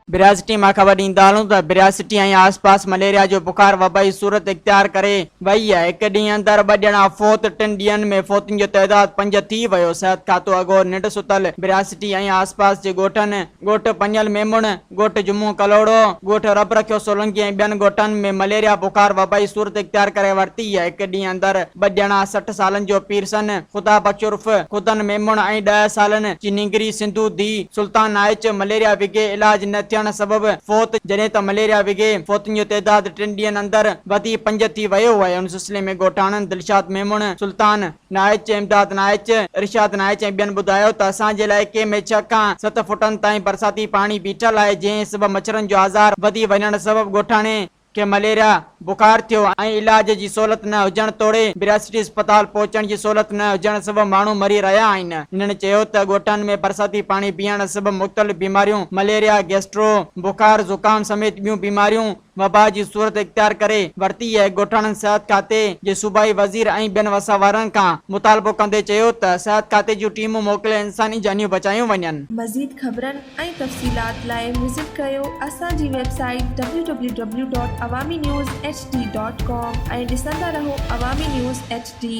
برياسٽي مان خبر ڏيندالون ته برياسٽي ۽ آس پاس مليريا جو بخار وبائي صورت اختيار ڪري وئي آهي هڪ ڏينهن اندر ٻه ڄڻا فوت ٽن ڏينهن ۾ فوتن جو تعداد پنج ٿي ويو صحت کاتو اڳو ننڊ ستل برياسٽي ۽ آس پاس جي ڳوٺن ڳوٺ پڃل ميمڻ ڳوٺ جمعو ڪلهوڙو، ڳوٺ رب رکيو سولنگي ۽ ٻين ڳوٺن ۾ مليريا بخار وبائي صورت اختيار ڪري ورتي، هڪ ڏينهن اندر ٻه ڄڻا سٺ سالن جو پيرسن خدا بخش عرف خدن ميمڻ ۽ ڏهه سالن جي نينگري سنڌو ڌيء سلطان نائچ مليريا وگهي علاج نه ٿيڻ سبب فوت، جڏهن ته مليريا وگهي فوتن جو تعداد ٽن ڏينهن اندر وڌي پنج ٿي ويو هو ۽ ان سلسلي ۾ ڳوٺاڻن دلشاد ميمڻ، سلطان. نائچ، امداد نائچ، ارشاد نائچ ۽ ٻين ٻڌايو ته اسان جي علائقي ۾ ڇهه کان ست فوٽن تائين برساتي پاڻي بيٺل آهي جنهن سبب مڇرن جو آزار وڌي وڃڻ سبب ڳوٺاڻي کي مليريا بخار ٿيو ۽ علاج جي سهولت نه هجڻ توڙي برياسٽي اسپتال پهچڻ جي سهولت نه هجڻ سبب ماڻهو مري رهيا آهن. هنن چيو ته ڳوٺن ۾ برساتي پاڻي بيهڻ سبب مختلف بيماريون مليريا، گيسٽرو، بخار، زڪام سميت ٻيون بيماريون، وبا جي صورت اختيار ڪري ورتي اهي ڳوٺاڻن صحت کاتي جي صوبائي وزير ۽ ٻين وسه وارن کان مطالبو ڪندي چيو ته صحت کاتي جون ٽيمون موڪلي انساني جانيون بچايون وڃن. مزيد خبرن ۽ تفصيلات لاء وزٽ ڪريو اسان جي website W W W dot Awami news H D dot com ۽ ڏسندا رهو عوامي نيوز ايڇ ڊي.